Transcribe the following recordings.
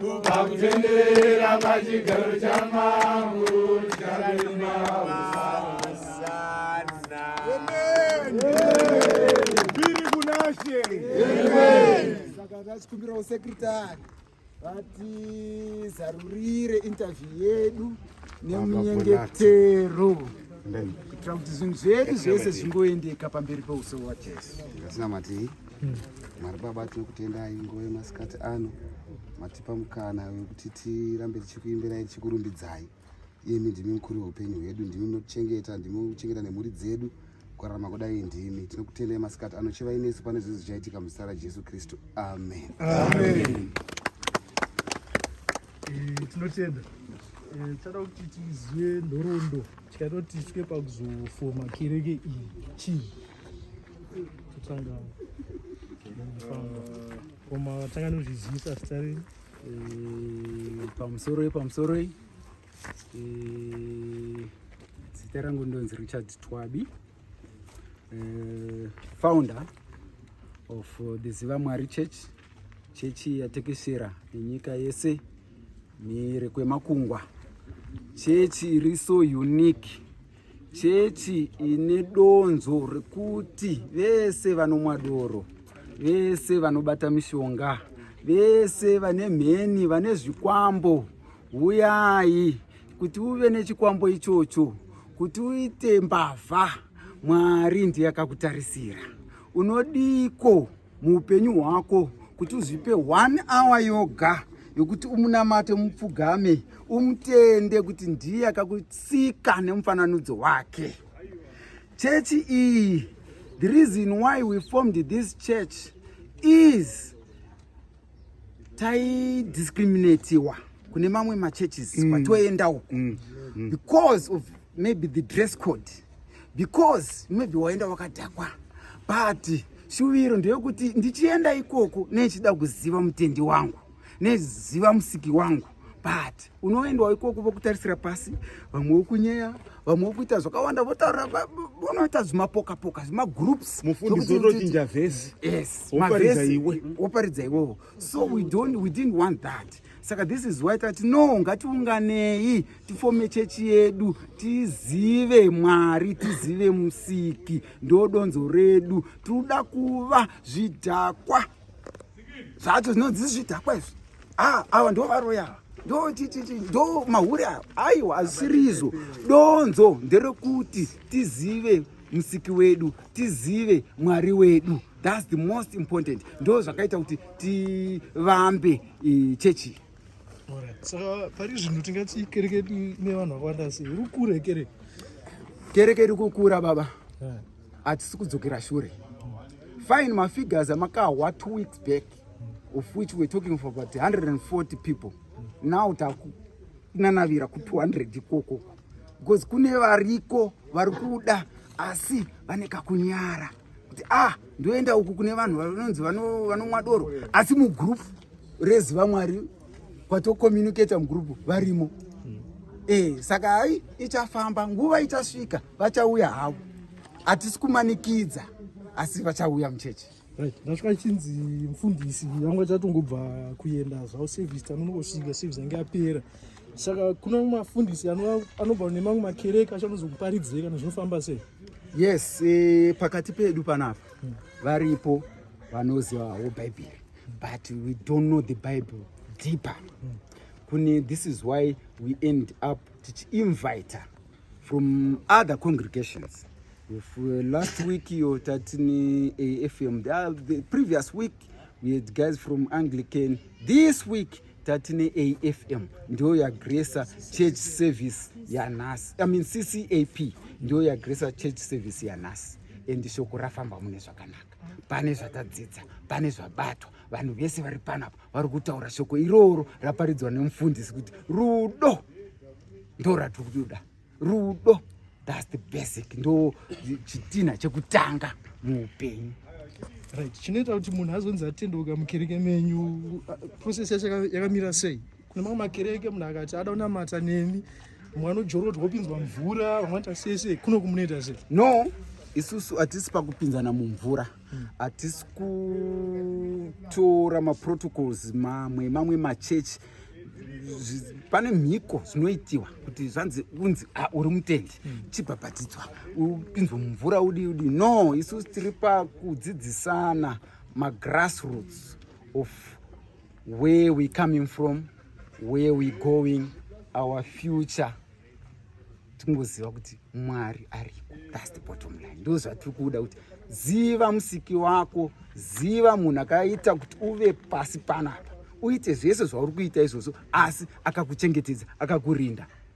Pakutenderera pachigaro chamambo Biri kunashe. Saka tachikumbirawo sekretari vatizarurire interview yedu nemunyengetero kuitira kuti zvinhu zvedu zvese zvingoendeka pamberi peuso wajesu. Ndasina matii. Mwari Baba, tinokutendai nguva yemasikati ano matipa mukana wekuti tirambe tichikuimbirai tichikurumbidzai. Iyemi ndimi mukuru weupenyu hwedu, ndimi munotichengeta, ndimi munochengeta nemhuri dzedu kurarama kudai ndimi. Tinokutendai masikati ano, chivai nesu pane zvinhu zvichaitika muzita raJesu Kristu. Amen. Amen. Eh, tinotenda eh, tichada kuti tizive nhoroondo tikaitoti tisvike pakuzofoma kereke iyi chii Tanga. Koma tanga nozvizivisa zita renyu. Eh, pamusoroi pamusoroi eh, zita rangu ndonzi richard twabi eh, founder of the ziva mwari church chechi yatekeshera nenyika yese mhiri kwemakungwa chechi iri so unique Chechi ine donzo rekuti vese vanomwa doro, vese vanobata mishonga, vese vane mheni, vane zvikwambo, huyai kuti uve nechikwambo ichocho, kuti uite mbavha, Mwari ndiye akakutarisira. Unodiko? muupenyu hwako kuti uzvipe one hour yoga yokuti umunamate mupfugame umutende kuti ndiye akakutsika nemufananidzo wake chechi iyi the reason why we formed this church is taidiscriminatiwa kune mamwe machurches mm. kwatoenda uko mm. mm. because of maybe the dress code because maybe waenda wakadhakwa but shuviro ndeyokuti ndichienda ikoko neichida kuziva mutendi wangu neziva musiki wangu but unoendwa ikoko vokutarisira pasi vamwe vokunyeya vamwe vokuita zvakawanda votaura vonoita zvimapoka poka zvimagroups mufundisi otochinja vhesi yes woparidza iwe woparidza iwewo so we don't we didn't want that saka this is why tati no ngatiunganei tifome chechi yedu tizive mwari tizive musiki ndodonzo redu tiri kuda kuva zvidhakwa zvacho zvinonzi zvidhakwa izvi ah, ava ndo varoya ava ndo tititi ndo mahure ava aiwa hazvisirizo donzo nderekuti tizive musiki wedu tizive mwari wedu thats the most important ndo zvakaita kuti tivambe eh, chechi saka pari zvinhu tingati kereke ine vanhu vakawanda sei iri kukura kereke kereke iri kukura baba yeah. hatisi kudzokera shure fine mafigures amakahwa two weeks back of which we're talking for about 140 people now takunanavira ku200 ikoko because kune variko vari kuda asi vane kakunyara kuti ah ndoenda uku kune vanhu vanonzi vanomwa doro asi mugroup reziva mwari kwatokomunicata mugrupu varimo e, saka hai ichafamba nguva ichasvika vachauya havo hatisi kumanikidza asi vachauya muchechi right ndasvika chinzi mfundisi yangu achatongobva kuenda zvavo service tanonongosvika service yange yapera saka kuna mafundisi anobva nemamwe makereke achanozokuparidzira kana zvinofamba sei yes e, pakati pedu panapa hmm. varipo vanozivawo bhaibheri but we don't know the bible deeper kune this is why we end up tichiinvita from other congregations If, uh, last week iyo tatini afm the, uh, the previous week we had guys from anglican this week tatine afm ndiyo yagresa church service yanhasi i mean ccap ndiyo yagresa church service yanhasi and shoko rafamba mune zvakanaka pane zvatadzidza pane zvabatwa vanhu vese vari panapa vari kutaura shoko iroro raparidzwa nemufundisi kuti rudo ndo ratiri kutoda rudo thats the basic ndo chitinha chekutanga muupenyu right chinoita kuti munhu azonzi atendeuka mukereke menyu uh, process yacho yakamira sei kune mamwe makereke munhu akati ada kunamata neni mwana ujorodzwa opinzwa mvura vamwata sese kuno kumunoita se no isusu hatisi pakupinzana mumvura hatisi hmm. kutora maprotocols mamwe mamwe machechi pane mhiko zvinoitiwa kuti zvanzi unzi ah, uri mutendi hmm. chibhabhatidzwa upinzwe mumvura udi udi no isusu tiri pakudzidzisana magrassroots of where we coming from where we going our future tingoziva kuti mwari ariko thats the bottom line ndo zvatiri kuda kuti ziva musiki wako ziva munhu akaita kuti uve pasi panapa uite zvese zvauri kuita izvozvo asi akakuchengetedza akakurinda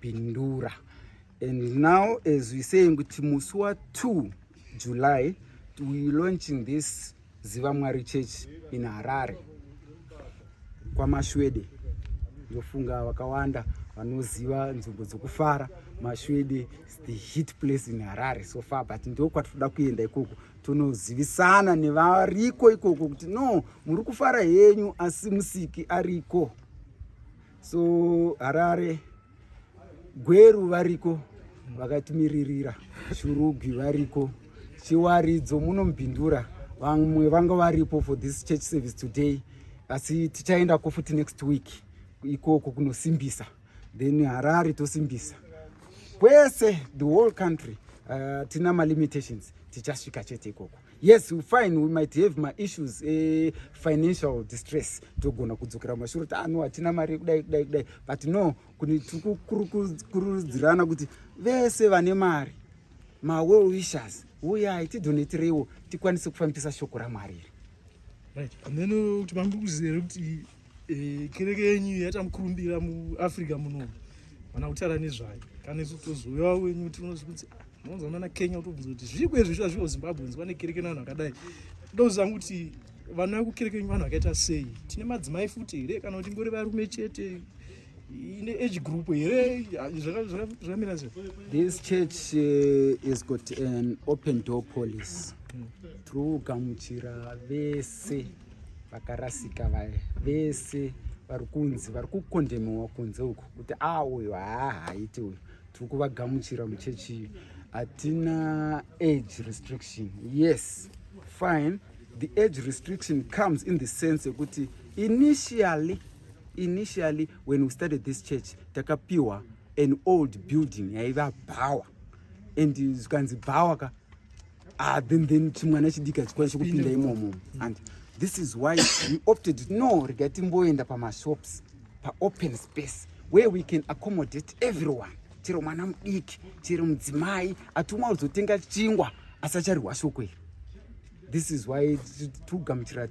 pindura and now as we saying kuti musi wa 2 july we launching this ziva mwari church in harare kwamashwede ndofunga vakawanda vanoziva nzvimbo dzokufara mashwede the heat place in harare so far but ndo kwatinoda kuenda ikoko tonozivisana nevariko ikoko kuti no muri kufara henyu asi musiki ariko so harare gweru variko vakatimiririra shurugwi variko chiwaridzo munomubhindura vamwe vanga varipo for this church service today asi tichaendako futi next week ikoko kunosimbisa then harare tosimbisa kwese the whole country uh, tina malimitations tichasvika chete ikoko yes we fine we might have maissues efinancial eh, distress togona kudzokera mashuro kuti ano ah, hatina mari yekudai kudai kudai but no tikukurudzirana kuti vese vane mari mawell wishers uyai tidhonetireiwo tikwanise kufambisa shoko ramwari iri right and then uh, kuti mambi kuzere kuti Eh, kereke yenyu yatamukurumbira muafrica muno mana kutara nezvayo kana isu tozouya wenyu tinozvi kuti ah, unonzwa mana kenya kutobvunza kuti zviiko izvi zviva zvivo zimbabwe nzwa nekereke nevanhu vakadai ndozanga kuti vana vekukereke yenyu vanhu vakaita sei tine madzimai futi here kana kuti ngori varume chete ine age group here zvakamira se this church eh, is got an open door police hmm. through gamuchira vese vakarasika vaya vese vari kunzi vari kukondhemewa kunze uku kuti a ah, uyu haahaiti uyu tiri kuvagamuchira muchechi iyo hatina age restriction yes fine the age restriction comes in the sense yekuti initially initially when we started this church takapiwa an old building yaiva bhawa and zvikanzi bhawa ka ah then then chimwana chidiki achikwanisa kupinda imomo and this is why we opted no rega timboenda pamashops paopen space where we can accommodate everyone chero mwana mudiki chero mudzimai atumwa kuzotenga chingwa asacharihwa shoko iri this is why tikugamuchira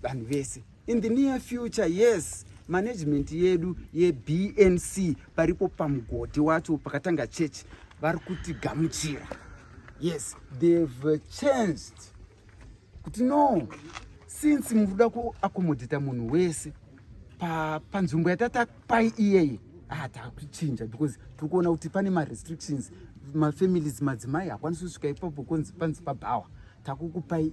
vanhu vese in the near future yes management yedu yebnc paripo pamugodhi wacho pakatanga church vari kutigamuchira yes they've changed kuti no since muri kuda kuakomodhita munhu wese panzvimbo pa yatata pai iyeye hatakuchinja ah, because tiri kuona kuti pane marestrictions mafamilies madzimai hakwanisi kusvika ipapo konzi panzi pabhawa takukupai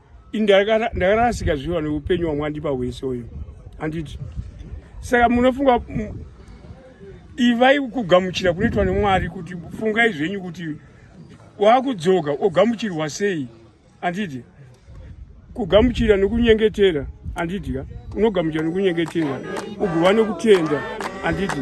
ndakarasika zviwa neupenyu wamwandipa hwese uyu handiti saka munofunga ivai kugamuchira kunoitwa nemwari kuti fungai zvenyu kuti wakudzoka ogamuchirwa sei handiti kugamuchira nekunyengetera handiti ka unogamuchira nekunyengetera ugova nekutenda handiti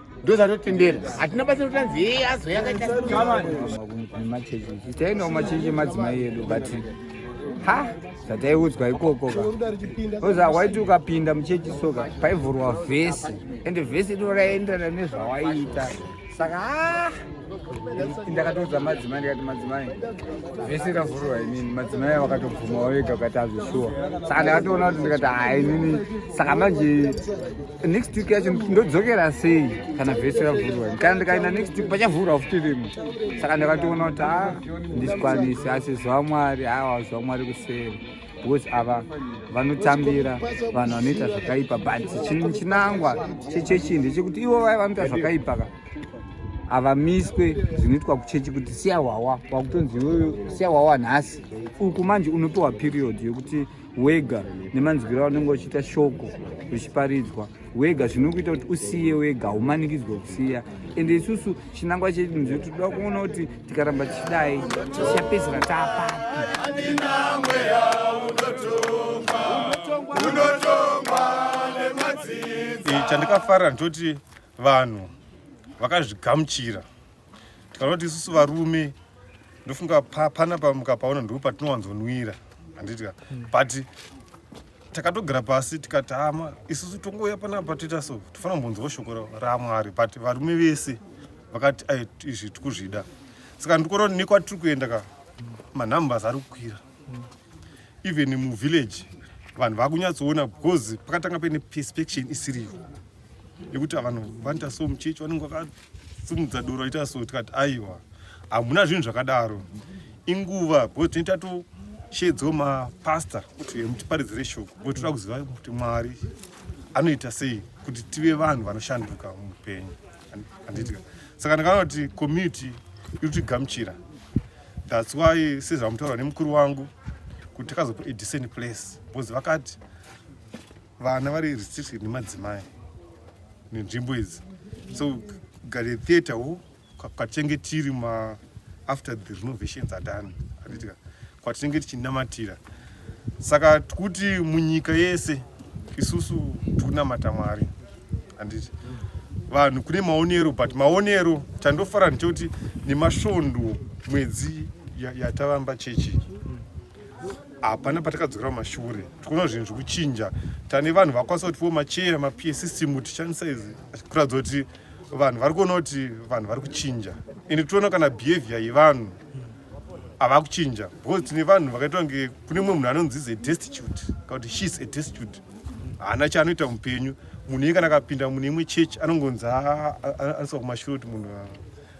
ndozvatotendera hatina basa kutanzi hei azo yakaitaemachechi tainawo machechi emadzimai edu but ha zvataiudzwa ikoko ka oza waiti ukapinda muchechi soka paivhurwa vhesi ende vhesi iro raienderana nezvawaiita saka ha ndakatoudza madzimai ndikati madzimai vese ravhurwa inini madzimai vakatobvuma wavega ukati azvishuwa saka ndakatoona kuti ndikati ha inini saka manje next week yacho ndodzokera sei kana vese vavhurwa kana ndikaenda next week pachavhurwa futi rimwe saka ndakatoona kuti a ndichikwanise asi zuva mwari hawa zuva mwari kuseri because ava vanotambira vanhu vanoita zvakaipa but chinangwa chechechi ndechekuti ivo vaya vanoita zvakaipa ka havamiswe zvinoitwa kuchechi kuti siya hwawa wakutonzi iyoyo siya hwawa nhasi uku manje unopiwa period yekuti wega nemanzwiro aunenge uchiita shoko richiparidzwa wega zvinokuita kuti usiye wega haumanikidzwe kusiya ende isusu chinangwa chedu nzio tinoda kuona kuti tikaramba tichidai tichapedzera taapapi chandikafara ndoti vanhu vakazvigamuchira kana kuti isusu varume ndofunga pana pamukapaona ndipo patinowanzonwira handiti ka hmm. but takatogara pasi tikati hama isusu tongouya panapa toita so tofanira kumbonzwawo shoko ramwari but varume vese vakati izvi tikuzvida saka ndikona kuti nekwatiri kuenda ka manumbers ari kukwira hmm. even muvillage vanhu vakunyatsoona because pakatanga paine perspectin isiriyo yekuti vanhu vanoita so muchechi vanenge simudza doro ita so tikati aiwa hamuna zvinhu zvakadaro inguva because tinenge tatoshedzwa mapasta kuti mutiparidzire shoko because toda kuziva kuti mwari anoita sei kuti tive vanhu vanoshanduka muupenyu handitika saka ndakaona kuti community iri kutigamuchira thats why sezvamutaura nemukuru wangu kuti takazopa edecent place because vakati vana vari restricted nemadzimai nenzvimbo idzi so gare theatre wo kwatinenge tiri ma after the renovations are done anditika kwatinenge tichinamatira saka tikuti munyika yese isusu tikunamata mwari handiti vanhu kune maonero but maonero chandofara ndichokuti nemasvondo mwedzi yatavamba chechi hapana patakadzokera kumashure tikuona zvinhu zvikuchinja tane vanhu vakwanisa kuti vo macheya mapie system tichandisa izi kuratidza kuti vanhu vari kuona kuti vanhu vari kuchinja ende toona kana behavior yevanhu hava kuchinja because tine vanhu vakaitwa kunge kune mumwe munhu anonzizi adestitute kana kuti she is adestitute haana chaanoita mupenyu munhu iye kana akapinda mune imwe church anongonzi anosva kumashure kuti munhu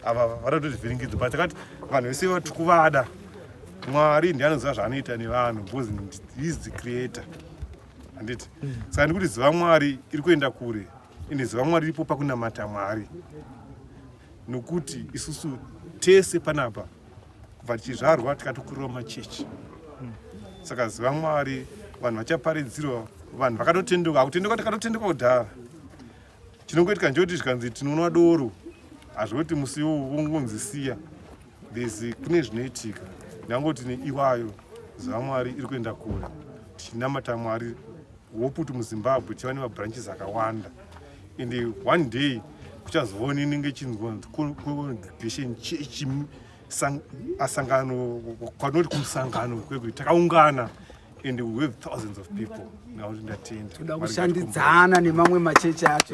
ava vanoita zvivhiringidzo but kati vanhu vese vati kuvada mwari ndiye anoziva zvaanoita nevanhu because he is the creator handiti mm. saka ndikuti ziva mwari iri kuenda kure ende ziva mwari ripo pakunamata mwari nokuti isusu tese panapa kubva tichizvarwa tikatokurira machechi mm. saka ziva mwari vanhu vachaparidzirwa vanhu vakatotendeuka akutendeuka takatotendeuka kudhara Chinongoitika ndechekuti zvikanzi tinonwa doro hazvoti musi iwowo vongonzi siya there's kune zvinoitika ndangoti neiwayo zvamwari iri kuenda kure tichinamata mwari hope kuti muzimbabwe chiva nemabranches akawanda and one day kuchazoona inenge chinzwacongregation church asangano kwanoti kumusangano kwekuti takaungana and we have thousands of people now ndatenda toda kushandidzana nemamwe machechi acho